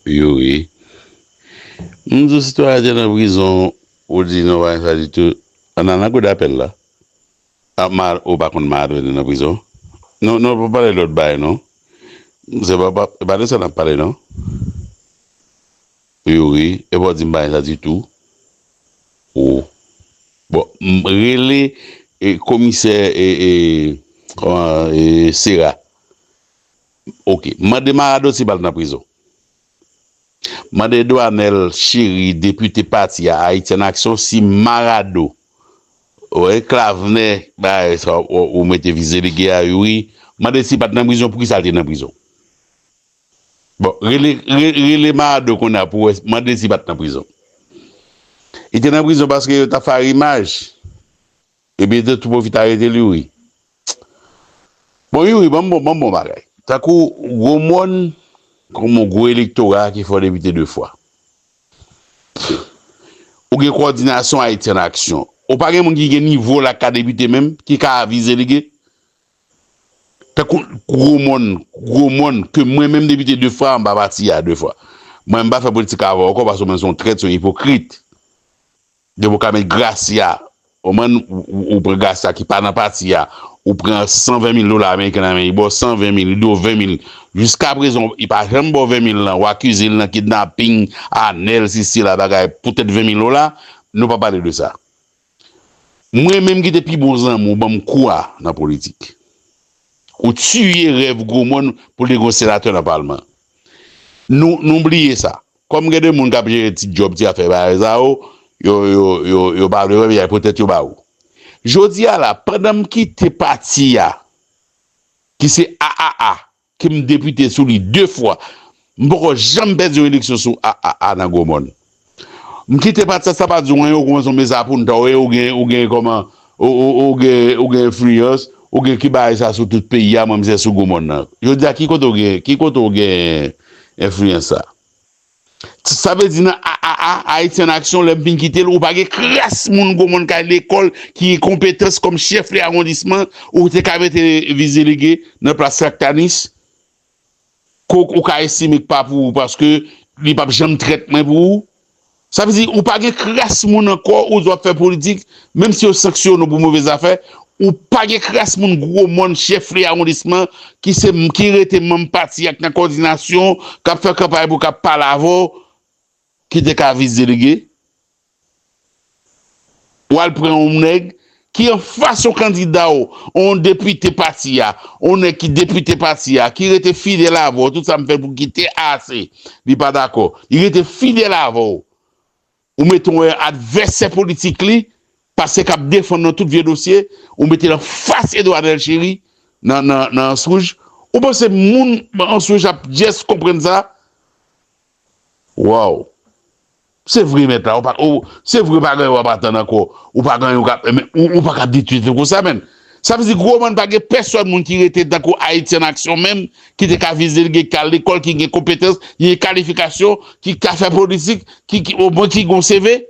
Yo wi. M di w si Toya te nan prizon ou di non pa gen sa ditou Ann al nan kou dapèl la a ma ou pa konn ma Adrien te nan prizon non non pa pale lòt bagay non se pa pa e pa de sa n ap pale non Yo wi e pa w di m pa gen sa ditou o bon m rele e komisè e e kòman e sera Ok mande maradoti bal nan prizon mande Edouard Anel cheri depite pati a ayiti an aksyon si marado oe klavnè bay sa ou mete vize lege a ui mande si pat nan prizon poukisa lte nan prizon bon rele rele marado konnya pou wè mande si pat nan prizon li te nan prizon paske yo tap fè arimaj. Ebyen de Toupo ki t arete l youri. Bon youri banm bon banm bon bagay. Tankou gwo mòn kòm yon gwo elektora ki fè w depite 2 fwa. Ou gen kowòdinasyon Ayiti an aksyon. Ou pa gen moun ki gen nivo w la ki ka depite menm, ki ka avize li gen. Tankou gwo mòn, gwo mòn ke mwen menm depite 2 fwa m pa pati a 2 fwa. Mwen m pa fè politik avè w ankò paske w menm se yon trèt, se yon ipokrit. Depi ou ka met gracia ou man ou pran gracia ki pa nan pati ya ou pran 120 mil dola ameriken nan men li baw 120 mil li diw 20 mil jiska prezan li pa janm baw 20 mil lan ou akize li nan kidnaping anel si sela bagay poutèt 20 mil dola nou pa pale de sa mwen menm ki te pi bon zanmi ou banm kou a nan politik ou tiye rèv gwo mòn pou li te gon senatè nan palman Nou bliye sa. Kòm gen de moun k ap jere ti djòb, ti afè bagay sa yo, yo pa vle wè men y ap pran tèt yo ba ou. Jodi a la, pandan m kite pati a ki se AAA, ke m depite sou li 2 fwa, m poko janm pèdi yon eleksyon sou AAA nan Gwomòn. M kite pati sa sa pa di w anyen ou kouman son mes apunta ou e ou gen ou gen kòman ou ou ou gen ou gen enfliyans ou gen ki bagay sa sou tout peyi a mwen mizè sou gou mòn nan jodi a ki kote ou gen ki kote ou gen enfliyans sa ti sa vle di nan a a a ayiti an aksyon lè m fin kite l ou pa gen kras moun gou mòn ka lekòl ki gen konpetans kòm chèf de awondisman ou te ka mete vizilege nan plas traktanis Kok ou ka estime k pa pou ou paske li pap janm trèt mwen pou ou. Sa vle di ou pa gen kras moun ankò ou di w ap fè politik menm si yo sanksyone w pou move zafè ou pa gen kras moun gwo mòn chèf li awondisman ki se ki rete manm pati ak nan kòdinasyon k ap fè kanpay pou w k ap pale avè w ki te ka vis delege Ou al pran yon nèg ki anfas yon kandida w, yon depite pati a, yon nèg ki depite pati a, ki rete fidèl avè w, tout sa m fè pou kite a se li pa dakò. Li rete fidèl avè w. Ou mete yon advèsè politik li, pase k ap defann nan tout vye dosye, ou mete l anfas Edouard Delchéry nan Answouj. Ou panse moun Answouj ap jès konprann sa? Waww se vre mèt la oh se vre pa gen wap atann ankò ou pa gen yon kap men ou paka abitye viv konsa menn sa vle di gwo mòn pa gen pèsòn moun ki rete tankou Haiti an aksyon menm ki te ka vize li gen kal lekòl ki gen konpetans ki gen kalifikasyon ki ka fè politik ki o mwen ki gen yon CV.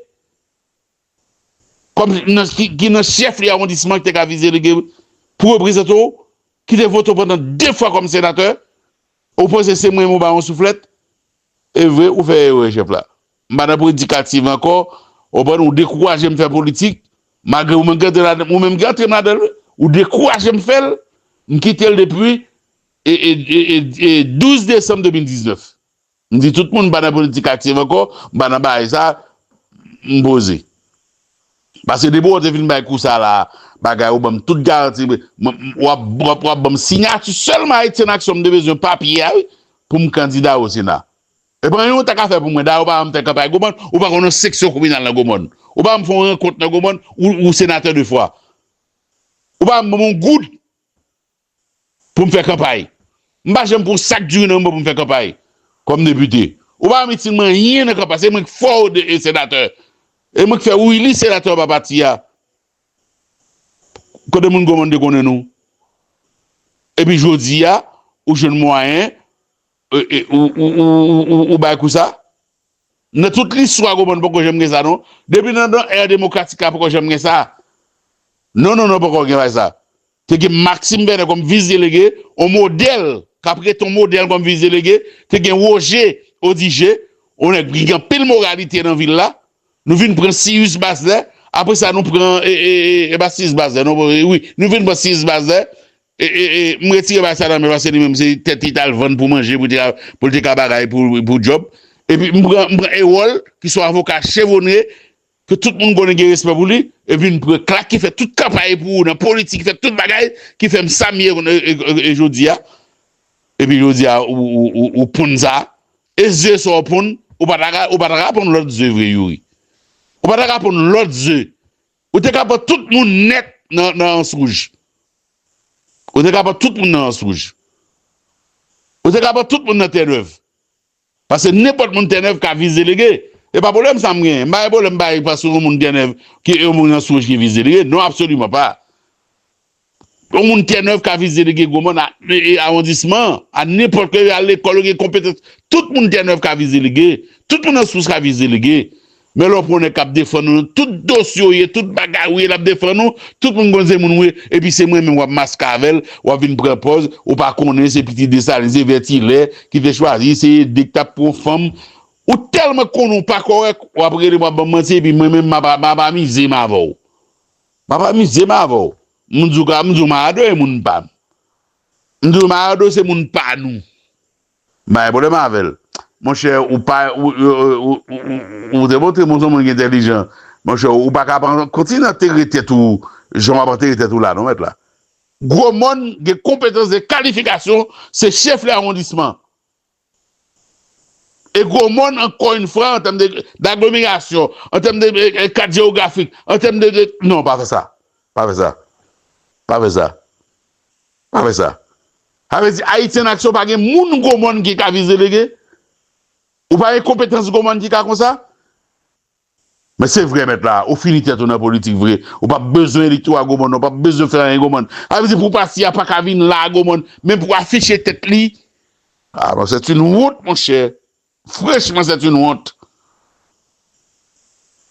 kòm ki nan chèflye awondisman ki te ka vizelege pou reprezante w, ki te vote w pandan de fwa kòm senatè, ou panse se mwen ou ba yon souflèt? E vre ou fè erè chèf la. M pa nan predikativ ankò, ou konprann, ou dekouraje m fè politik, malgre ou menm ki antre ladan l, ou menm ki antre m ladan l wi, ou dekouraje m fè l, m kite l depi 12 desanm 2019. M di tout moun pa nan politik aktiv ankò, pa nan bagay sa, m poze. Paske depi wè te fin bay kou sa la a, bagay ou ban m tout garanti, w ap ban m sinyati sèlman Ayiti An Aksyon m te bezwen papye a wi pou m kandida o Sena. E pa anyen ou ta ka fè pou mwen, dayè ou pa ban m fè kanpay Gomòn, ou pa konn yon seksyon kominal nan Gomòn, ou pa ban m fè yon rankont nan Gomòn, ou senatè 2 fwa, ou pa ban m yon goud. pou m fè kanpay. M pa janm pran sak diri nan men mwen pou m fè kanpay kòm depite. Ou pa pèmèt itil m anyen nan kanpay. Se mwen k fè w senatè. E mwen k fè ou ili senatè pa pati a. Kote moun Gwomande konnen nou? Epi jodi a, ou jwenn mwayen Ou bay kou sa? Nan tout listwa goman poko janm gen sa non. Depi nan dan ère demokratik la poko janm gen sa. Non non non poko gen bagay sa. Te gen Maxime Bernet kòm vis delege, yon modèl kap rete yon modèl kòm vis delege, te gen Roger Odigé, yon nèg ki gen anpil moralite nan vil la. Nou vin pran Sirius Bazlè, aprè sa nou pran e e e e pa Sirius Bazlè non wi, nou vin pran Sirius Bazlè M retire bagay sa nan men paske li menm se tèt li tal vann pou manje pou l te ka bagay pou djòb epi m pran Erol ki son avoka chevonre ke tout moun konnen gen respè pou li epi m pran Clark ki fè tout kanpay pou ou nan politik fè tout bagay ki fè m sa m ye jodi a epi jodi a ou ponn sa e ze sa w ponn ou pa ta ka ponn lòt ze vre Youri ou pa ta ka ponn lòt ze Ou te ka pran tout moun nèt nan ans wouj. Ou te ka pran tout moun nan ans wouj. Ou te ka pran tout moun nan Tènèv. Pase nenpòt moun Tènèv ka vis delege. E pa pwoblèm sa m genyen. M pa gen pwoblèm bay pase yon moun Tènèv ki yon moun ans wouj ki vis delege. Non absoliman pa. Yon moun Tènèv ka vizite Delege Gomòn a awondisman an, a nenpòt lè, yo al lekòl, yo gen konpetans. Tout moun Tènèv ka vizite Delege, tout moun Anspous ka vizite Delege. Men lè w pran yon nèg k ap defann ou nan tout dosye w ye, tout bagay ou ye, l ap defann ou, tout moun konn se moun ou ye, epi se mwen menm w ap maske avè l, w ap vin pran pòz ou pa konnen se pitit Desalin, se Vètilè ki te chwazi, se Ede ki t ap pran fanm. Ou tèlman konnen w pa kòrèk, w ap rele m, w ap ban m manti, epi mwen menm m ap amize m avè w. Map amize m avè w. M di w ka, m di w Mayado e moun pa m. M di w Mayado se moun pa nou. M pa gen pwoblèm avè l. Monchè, ou pa, ou demontre m ou se yon moun ki entèlijan. Monchè, ou pa ka ap antre, kontinye antere tèt ou jan w ap antere tèt ou la non mèt la. Gwo mòn gen konpetans, gen kalifikasyon, se chèf lè awondisman. E gwo mòn ankò yn fwa an tèm de daglomerasyon, an tèm de kat jewografik, an tèm de de. Non pa fè sa, pa fè sa, pa fè sa, pa fè sa. Sa vle di Ayiti an aksyon pa gen moun gwo mòn ki ka vize lege? Ou pa gen konpetans gwo mòn ki ka konsa? Men se vre mèt la, ou fini tèt ou nan politik vre, ou pap bezwen elektora Gaumont non, pap bezwen fè anyen Gaumont. Sa vle di pou pati a paka vin la a Gaumont menm pou afiche tèt li. Ah bon c'est une honte monchè frechman c'est une honte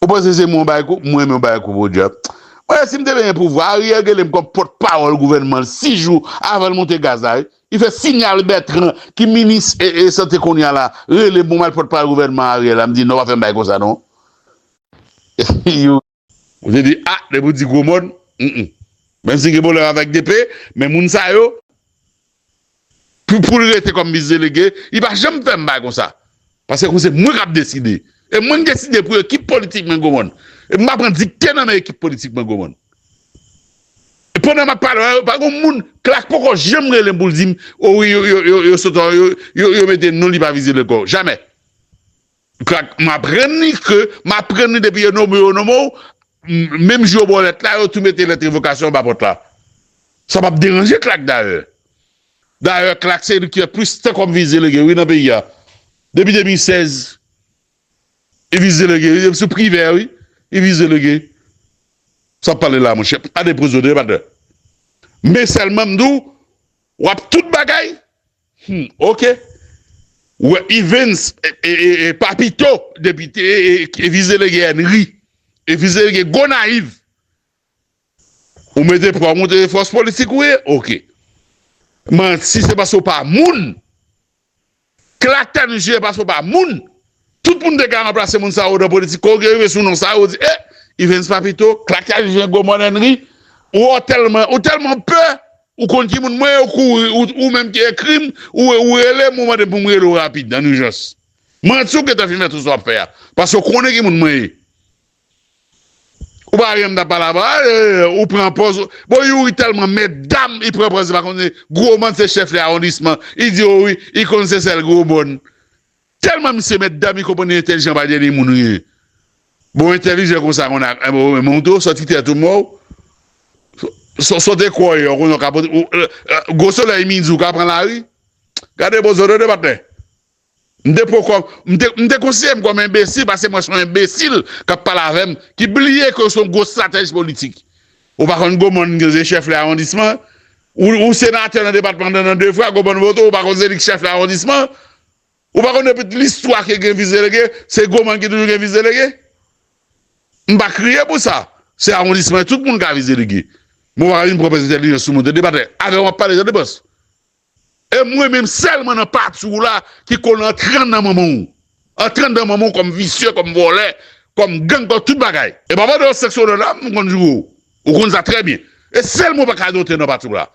ou panse se mwen ou bay kou mwen menm ou bay kou podyab mwen si m te benyen pouvwa Ariel gelen m kòm pòt pawòl gouvènman l 6 jou avan l monte gaz la wi Li fè sinyal Bertrand ki minis sante kounya la rele m pou mal pòtpawòl gouvènman Ariel la m di non pa fè m bagay konsa non Youri. Mwen te di ah depi w di gwo mo n m menm si m gen pwoblèm avèk DP men moun sa yo pou l rete kòm mis delege li pa janm fè m bagay konsa Pase kou se mwen kap deside. E mwen deside pou ekip politik mwen goumonn. E m pa pran dikte nan men ekip politik mwen goumonn. E pandan map pale a yo pa gon moun Clark poko janm rele m pou l di m o wi yo sot an yo mete non li pa vizib anko. Jamè. Clark m aprann li ke m aprann li depi yo nome yo nome w menm jou yo ba w lèt la yo tou mete lèt revokasyon anba pòt la. Sa pap deranje Clark dayè. Dayè CLAC se li ki gen plis tan kòm vis delege wi nan peyi a. Depi 2016 li vis delege wi, depi sou Privè wi li vis delege. Sa wap pale la monchè, pa depoze de batè. Men sèlman m di w, w ap tout bagay, hum ok. Ou wè Evens e Papito depite e vis delege Ènri e vis delege Gonayiv. Ou mete pwa moun se fòs politik ou ye ok manti se paske ou pa moun klatan je paske ou pa moun tout moun te ka ranplase moun sa yo nan politik kow gen rive sou non sa yo ou di eh Evens Papito klatan je gwo mònènri ou tèlman ou tèlman pè ou konn ki moun mwen ye ou kouri ou menm ki ekrim ou ou relem ou mandem poum rele w rapid an ijans manti ou gentan fin fè tout sa wap fè a paske ou konnen ki moun mwen ye. Ou pa renmn ta pale avan an eeh ou pran pòz bon youri tèlman mètdam li pran pòz li pa konn se gromòn se chèf li awondisman li di yo wi li konn se sèl gromòn tèlman misye mètdam li konprann li entèlijan pa dènye moun wi bon entèlijan konsa konn ak eh bon men ou tou sòti tèt ou mò w sote kwè w konnen w ka pote gwo solèy midi ou ka pran lari gade bozo tande patnè. M te poko, m te, m te konsidere m kòm enbesil pase mwen se yon enbesil k ap pale avè m, ki bliye ke ou se yon gwo stratèj politik. Ou pa konn Gomòn ki se chèf lè awondisman an? Ou, ou senatè nan depatman nan nan 2 fwa, Gomòn vote w, ou pa konn se li ki chèf lè awondisman an? Ou pa konn depi listwa ke gen vis delege, se Gomòn ki toujou gen vis delege? M pa kriye pou sa. Se awondisman, tout moun ka vis delege. Men ou pa ka vin pran prèz entèlijans sou moun. Se debatè. Avè w m ap pale, sa depans. E mwen menm selman nan pati w la ki konn antre anndan manman w. Antre anndan manman w kòm visye, kòm vòlè, kòm gang, kòm tout bagay. E papa de w sèks odò dam m konn joure w. Ou konn sa trè byen. E selman w pa ka dote nan pati w la.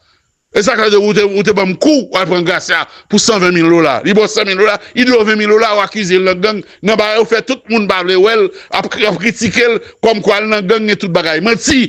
E sa ka di w te banm kou w al pran Gracia pou 120 mil dola. Li ba w 100 mil dola, li di w 20 mil dola ou akize l nan gang, nan bagay ou fè tout moun pa vle wè l, ap kritike l kòm kwa l nan gang e tout bagay. Manti!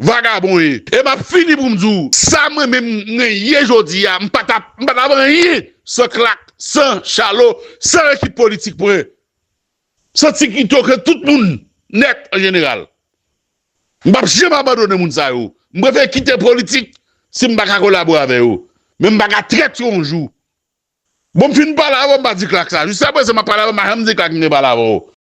Vagabon ye. E map fini poum di w sa mwen menm mwen ye jodi a m pa tap m pa tap anyen san Clack, san Charlo, san ekip politik mwen, san ti Guito ke tout moun nèt an jeneral. M pap janm abandone moun sa yo. M prefere kite politik si m pa ka kolabore avè yo. Men m pa ka trèt yo yon jou. Bon m fin pale avè w m pa di Clack sa. Jiskaprezan map pale avè w m pa janm di Clack m te pale avè w.